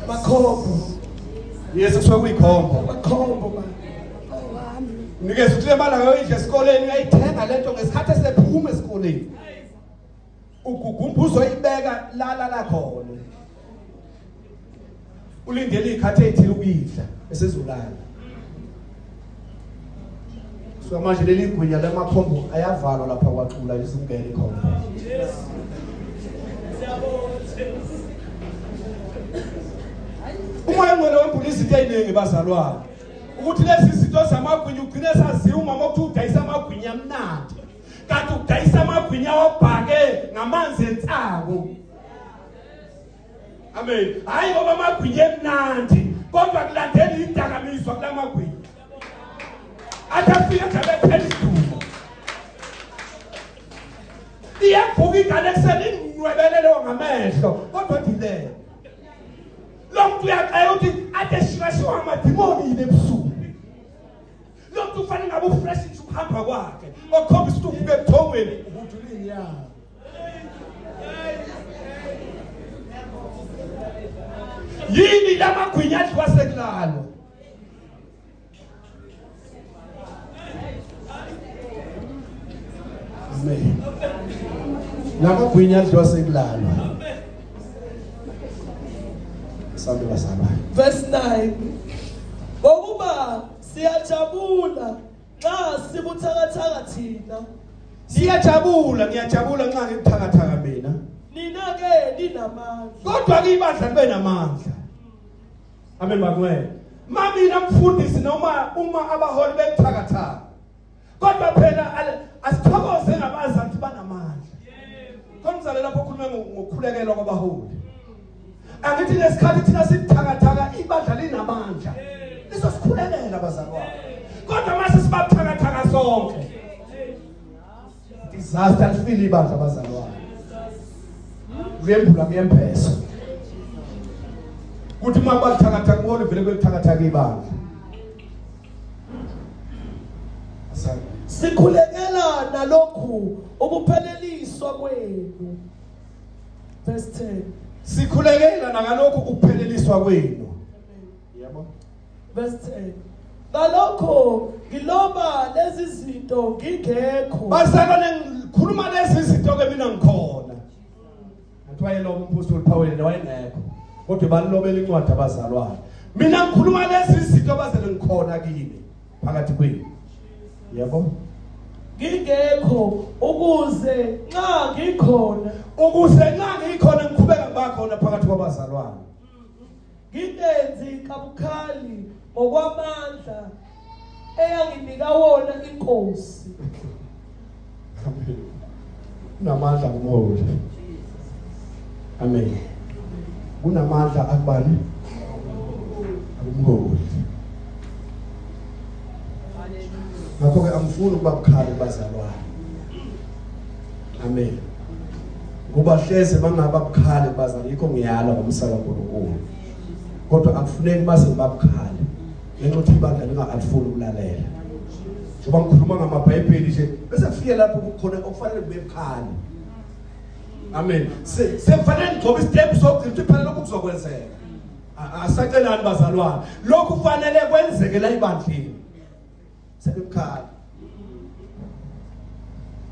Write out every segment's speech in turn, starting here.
Makhombo. Yes kuthiwa kuyikhombo. Makhombo ma. Nikeza ukuthi le mali ayoyidla esikoleni uyayithenga lento ngesikhathi esephuma esikoleni. Ugugumba uzoyibeka lala la khona. Ulindele ikhathi ethile ukuyidla esezulala. so manje leli gwinya lamakhombo ayavalwa lapha kwaxula lisingene ikhombo umoya ngwele wembula izinto eziningi bazalwane ukuthi lezi zinto zamagwinya ugcine saziwa umama ukuthi udayisa amagwinya amnandi kanti udayisa amagwinya obhake ngamanzi ensangu amen hayi ngoba amagwinya emnandi kodwa kulandela idakamizwa kula magwinya athi afike nje abephela idumo iyavuka ingane ekuseni inwebelelewo ngamehlo kodwa dilele lo muntu uyaxela ukuthi ade shikashiwa amadimoni yini ebusuku lo muntu ufanele ngabe ufresh nje ukuhamba kwakhe okhombisa ukuthi uvuke ebuthongweni uhudulini yawo yini lamagwinya adliwa sekulalwa lamagwinya adliwa sekulalwa sabe bazalwane verse 9 ngokuba siyajabula Nxa sibuthakathaka thina. Siyajabula, ngiyajabula nxa ngibuthakathaka mina. Nina ke ninamandla. Kodwa ke ibandla libe namandla. Amen bakwena. Mamina mfundisi noma uma abaholi bebuthakathaka. Kodwa phela asithokoze ngabazantu banamandla. Khona lapho ukhuluma ngokukhulekelwa kwabaholi. angithi lesikhathi thina sithakathaka ibandla linamandla lisosikhulekela bazalwane kodwa mase sibabuthakathaka sonke disaster lifile ibandla bazalwane kuyembula kuyembhesa kuthi uma bathakatha kubona vele kwelithakathaka ibandla sikhulekela nalokhu ukupheleliswa kwenu Verse 10. Sikhulekela nakalokhu ukupheleliswa kwenu. Yebo. Verse 10. Ngalokho ngiloba lezi zinto ngingekho. Basakane ngikhuluma lezi zinto ke mina ngikhona. Kuthiwa yena umphostoli Paul wayengekho. Kodwa balilobela incwadi abazalwane. Mina ngikhuluma lezi zinto abazele ngikhona kini. phakathi kwenu yabo ngingekho ukuze nxa ngikhona ukuze nxa ngikhona ngiqhubeka bakhona phakathi kwabazalwane ngingenzi kabukhali ngokwamandla eyanginika wona inkosi kunamandla kumholi amen kunamandla akubani akumholi ngakho-ke angifuni ukuba bukhali bazalwane amen kuba hleze bangaba bukhali bazana yikho ngiyala ngomsaka nkulunkulu kodwa akufuneki baze babukhali ngenxa ukuthi ibandla lingakalifuni ukulalela njengoba ngikhuluma ngamabhayibheli nje bese kufike lapho kukhona okufanele kube bukhali amen sekufanele ngigcobe isitepu sokugcina ukuthi phela lokhu kuzokwenzeka asacelani bazalwane lokhu kufanele kwenzeke la ibandleni sebemkhala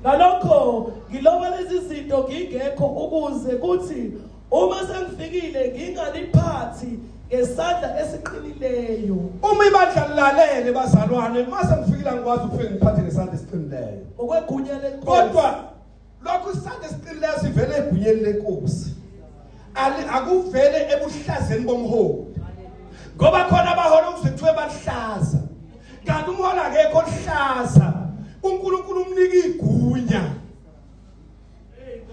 ngalokho ngiloba lezi zinto ngingekho ukuze kuthi uma sengifikile ngingaliphathi ngesandla esiqinileyo uma ibandla lilalele bazalwane uma sengifikile angikwazi ukufika ngiphathe ngesandla esiqinileyo ngokwegunya lenkosi kodwa lokho isandla esiqinileyo sivele egunyeni lenkosi ali akuvele ebuhlazeni bomholi ngoba khona abahola ukuzithiwe bahlaza kanti umhola akekho ohlaza uNkulunkulu umnika igunya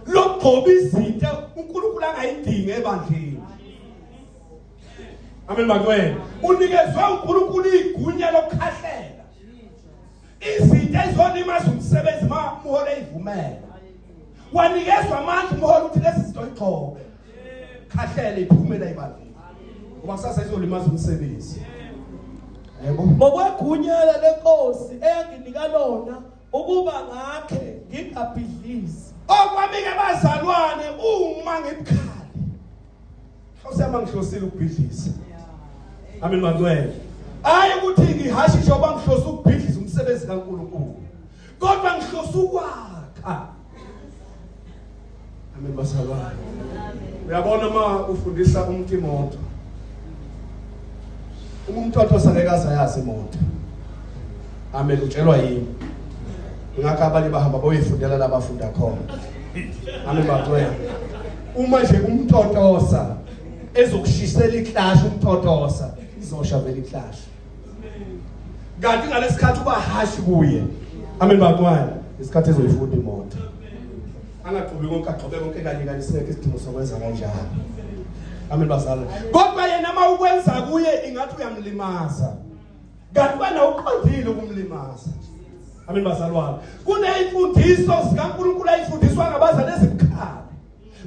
lokugcoba izinto uNkulunkulu angayidingi ebandleni Amen bakwena unikezwe uNkulunkulu igunya lokukhahlela izinto ezonimaza umsebenzi ma umholi eyivumela wanikezwa amandla umholi ukuthi lezi zinto igxoke khahlele iphume la ibandla ngoba kusasa izolimaza umsebenzi yebo ngokwegunyela lenkosi eyanginika lona ukuba ngakhe ngingabhidlizi okwamike bazalwane uma ngibukhali Hlosema ngihlosile ukubhidliza. Amen mangcwele. Hayi ukuthi ngihashe njengoba ngihlosa ukubhidliza umsebenzi kaNkulunkulu. Kodwa ngihlosa ukwakha. Amen basalwane. Uyabona uma ufundisa umuntu imoto. Umntotho sangekaza yazi imoto. Amen utshelwa yini? Ngakho abanye bahamba boyifundela labafunda khona. Amen bacela. uma nje umtotosa ezokushisela iklash umtotosa izosha vele iklash kanti ngalesikhathi uba hashi kuye amen bakwani isikhathi ezoyifunda imoto angagxobi konke agxobe konke kanye kanye singekho isidingo sokwenza kanjalo amen bazalwane kodwa yena uma ukwenza kuye ingathi uyamlimaza kanti wena uqondile ukumlimaza amen bazalwane kuneyimfundiso zikaNkulunkulu ayifundiswa ngabazali ezibukhali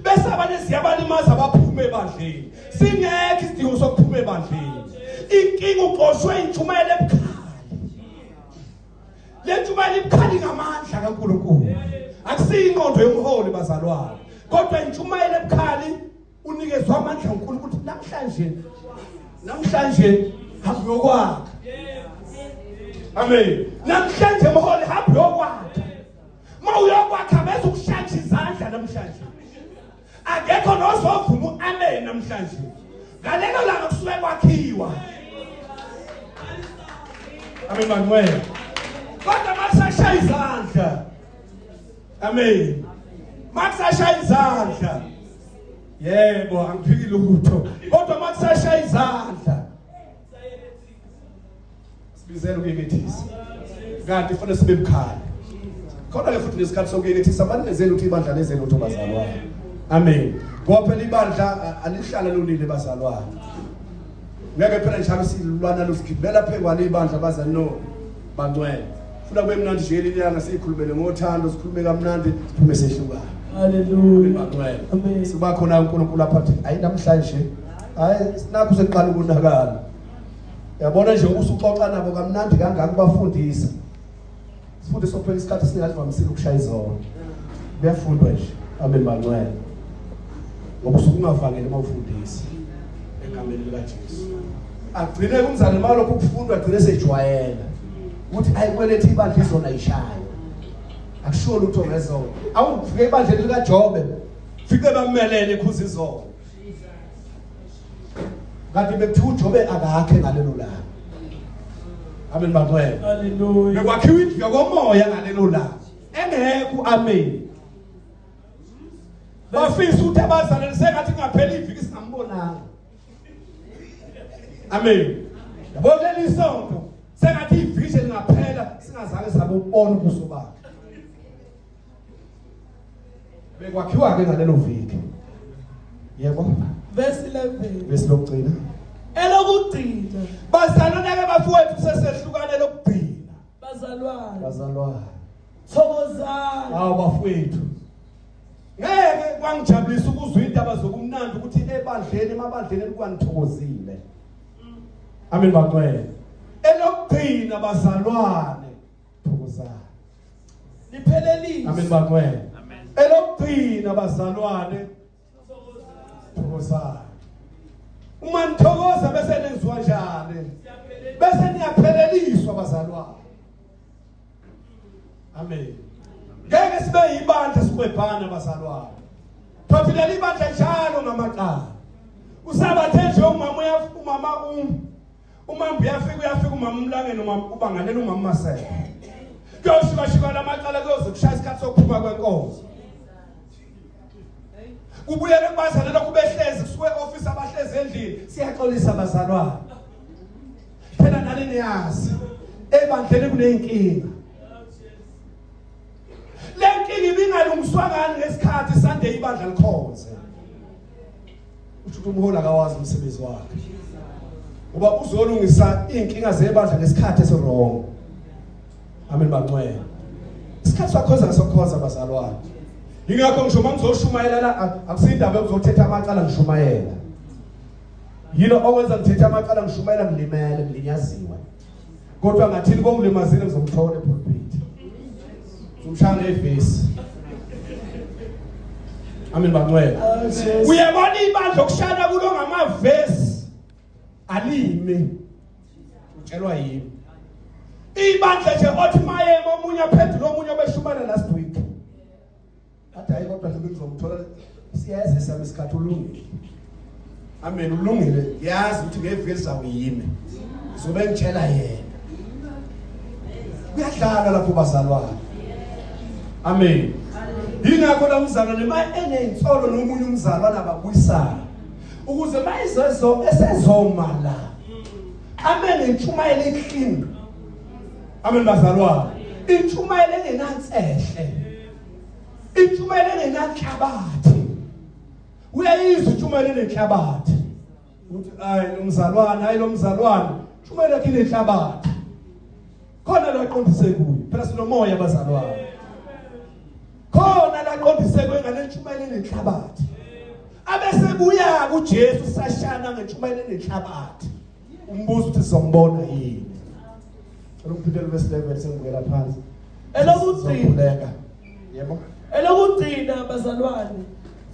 bese abanye siyabalimaza baphume ebandleni singekho isidingo sokuphuma ebandleni inkinga uqoshwe intshumayelo ebukhali le ntshumayelo ibukhali ngamandla kaNkulunkulu akusiyinqondo yomholi bazalwane kodwa intshumayelo ebukhali unikezwa amandla uNkulunkulu ukuthi namhlanje namhlanje hambe yokwakha amen namhlanje mholi hambe yokwakha mawuyokwakha bese ukushatsha izandla namhlanje akekho nozovuma uamen namhlanje ngalelo langa kusuke kwakhiwa amen manuel kodwa masashaya izandla amen makusashaya izandla yebo angiphiki lutho kodwa makusashaya izandla sibizela ukuyekethisa kanti kufanele sibe mkhaya khona ke futhi nesikhathi sokuyekethisa abantu benzeni ukuthi ibandla lezeni ukuthi bazalwane amen ngoba phela ibandla alihlala lolile bazalwane ngeke phela njalo silulwana lusigibela phekwalo ibandla baza no bangcwele funa kube mnandi nje leli langa siyikhulumele ngothando sikhulume kamnandi siphume sehlukana haleluya amen siba khona uNkulunkulu apha athi ayi namhlanje hayi sinakho seqala ukunakala yabona nje usuxoxa nabo kamnandi kangaka ubafundisa sifundisa phela isikhathi singalivamisile ukushaya izona kuyafundwa nje amen bancwele ngoba usuke ungavangeli uma ufundisa egameni likaJesu agcine kumzane malo kukufundwa agcine sejwayela ukuthi ayikwelethe ibandla izona ishayo akusho lutho ngezona awufike ibandla lika Jobe fike bamelele ikhuza izona kanti bekuthiwa uJobe akakhe ngalelo langa amen bantwana haleluya bekwakhiwa indlu yokomoya ngalelo langa engekho amen bafisa ukuthi abazalwane sengathi ngaphela iviki singambonanga amen yabona leli sonto sengathi iviki lingaphela singazange sabe ukubona ubuso bakhe bekwakhiwa ke ngalelo viki yebo verse 11 verse lokugcina elokugcina bazalwana ke bafowethu sesehlukane lokugcina bazalwana bazalwana thokozani hawo bafowethu ngeke kwangijabulisa ukuzwa indaba zokumnandi ukuthi ebandleni emabandleni kwanithokozile Amen bakwethu. Elokugcina bazalwane thokozani. Liphelelise. Amen bakwethu. Amen. Elokugcina bazalwane thokozani. Uma nithokoza bese nenziwa njani? Bese niyapheleliswa bazalwane. amen ngeke sibe yibandla sikwebhana bazalwane thothile libandla njalo ngamaqala usabathe nje umama uyafika umama um umama uyafika uyafika umama umlangeni umama ubangalela umama masela kuyoshika shika lamacala kuyoze kushaya isikhathi sokuphuma kwenkonzo kubuyele kubazalelwa kubehlezi kusuke office abahlezi endlini siyaxolisa bazalwane phela nani niyazi ebandleni kuneyinkinga le nkinga ibingalungiswa ngani ngesikhathi sande ibandla likhonze usho ukuthi umholi akawazi umsebenzi wakhe uba uzolungisa iy'nkinga zebandla ngesikhathi esiwrong amen bancwela isikhathi sakhoza ngisokhonza bazalwane yingakho ngisho uma ngizoshumayela la akusiyindaba yokuzothetha amacala ngishumayela yilo owenza ngithethe amacala ngishumayela ngilimele ngilinyaziwe kodwa ngathini kongilimazile ngizomthola epulpit ngimshaya ngevesi amen bangcwele uyabona ibandla okushana kulo ngamavesi alime utshelwa yimi ibandla nje othi mayema omunye aphendula omunye obeshumana last week athi hayi kodwa ngibe ngizomthola siyeza sami isikhathi ulungile amen ulungile yazi ukuthi ngeviki lizawuyime zobe ngitshela yena kuyadlala lapho bazalwane amen yingakho la mzalwane ma eney'nsolo nomunye umzalwane ababuyisana ukuze ma izezo esezoma la ame nentshumayelo eklini amen bazalwane intshumayelo engenansehle Intshumayelo engenanhlabathi. Uyayizwa intshumayelo enenhlabathi. Uthi ay umzalwane, ay lomzalwane, intshumayelo yakhe inenhlabathi. Khona lo aqondise kuyo. Phela sinomoya abazalwane. Khona la aqondise kuyo ngale ntshumayelo enenhlabathi. Abesebuya kuJesu sashana ngentshumayelo enenhlabathi. umbuzo uthi sizombona yini cela uphindele bese level sengibukela phansi elokugcina yebo elokugcina bazalwane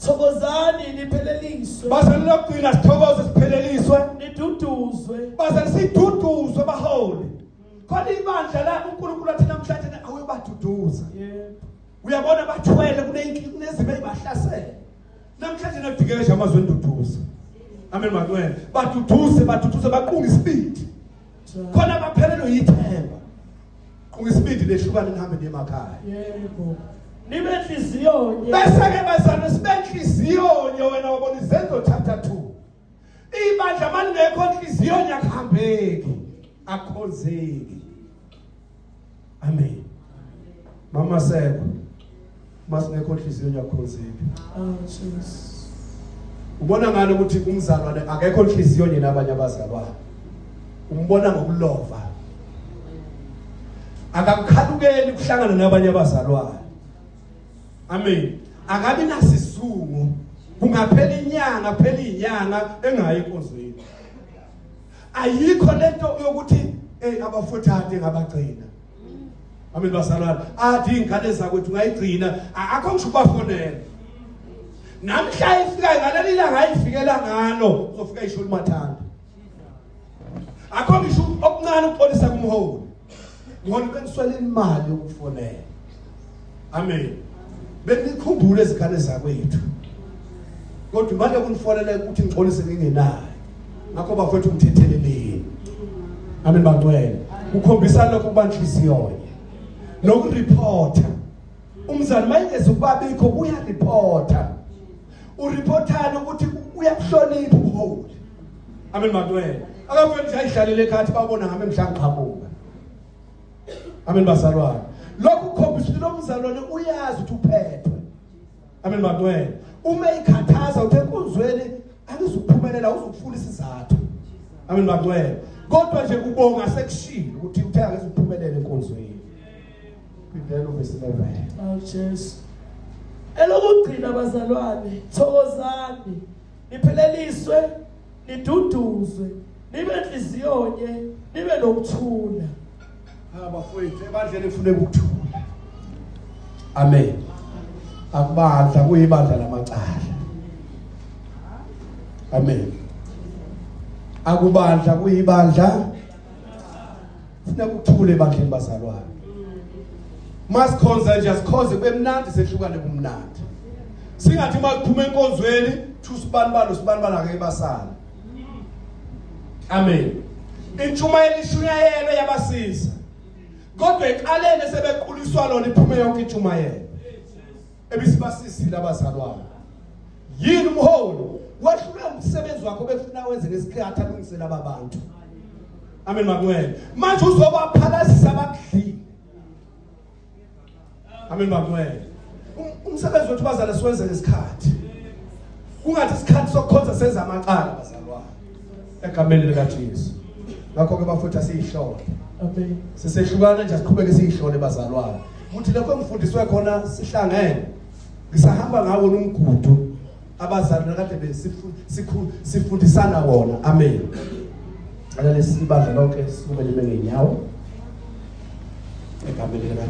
thokozani nipheleliswe bazalwane lokugcina sithokoze sipheleliswe niduduzwe bazalwane siduduzwe baholi khona ibandla la uNkulunkulu athi namhlanje awuyobaduduza yebo uyabona bathwele kunezimo ezibahlasele namhlanje nadikeje amazwi enduduzo amen mancwele baduduze baduduze baqunga isibindi khona baphelelwe yithemba qunga isibindi lehlukane nihambe nemakhaya yebo nibe nhliziyo nye bese ke bazana sibe nhliziyo nye wena wabona izenzo chapter 2 ibandla malingekho nhliziyo nyakuhambeki akhonzeki amen mama seko masingekho inhliziyo nyakhonziphi oh jesus ubona ngani ukuthi umzalwane akekho inhliziyo yena abanye abazalwane umbona ngokulova akakukhalukeli kuhlangana nabanye abazalwane amen akabi nasizungu kungaphela inyanga phela inyanga engayi enkonzweni ayikho lento yokuthi hey abafowethu ade ngabagcina amen bazalwane ade ingane zakwethu ngayigcina akho ngisho ubafonela namhla ifika ngaleli langa ayifikela ngalo uzofika isho limathanda akho ngisho okuncane ukuxolisa kumholi ngibona beniswela imali yokufonela amen benikhumbule izikhale zakwethu kodwa manje kunifonela ukuthi ngixolise ngingenayo ngakho bafethu ngithetheleleni amen bangcwele ukhombisa lokho kubanhliziyo nokureporta umzali mayengeza ukuba bikho uyareporta ureportana ukuthi uyakuhlonipha ubuholi Amen madwele. Akafuni nje ayihlalele ekhathi babona ngami mhlangqhamuka. Amen bazalwane. Lokhu ukhombisa ukuthi lo mzalwane uyazi ukuthi uphethwe. Amen madwele. Uma ikhathaza uthe kunzweni angizukuphumelela uzukufuna isizathu. Amen madwele. Kodwa nje kubonga sekushilo ukuthi uthe angizukuphumelela enkonzweni. Phindela uvesi 11. Oh Jesus. Elokugcina bazalwane, thokozani. nipheleliswe niduduzwe nibe nhliziyonye nibe nokuthula abafowethu ebandleni kufuneka ukuthula amen akubandla kuyibandla lamacala amen akubandla kuyibandla Funa kuthule bandleni bazalwane. Masikhonza nje asikhonze kube mnandi sehlukane kumnandi. Singathi uma kuphuma enkonzweni thusibani balo sibani bala ke basana. Amen. Intshumayelo ishunyayelo yabasiza. Kodwa eqaleni sebequliswa lona iphume yonke intshumayelo. ebisibasizile abazalwane yini umholi wahlula umsebenzi wakho befuna wenze ngesikhathi alungisela ababantu amen makunene manje uzobaphalazisa abakudlile amen makunene um, umsebenzi wethu bazala siwenze ngesikhathi kungathi isikhathi sokukhonza senza amacala bazalwane egameni likaJesu ngakho ke bafutha siyihlole amen sisehlukana nje siqhubeke siyihlole bazalwane ukuthi lokho engifundiswe khona sihlangene ngisahamba ngawo nomgudu abazali nakade besifundisana wona amen alale sibandla lonke sikumele bengenyawo egameni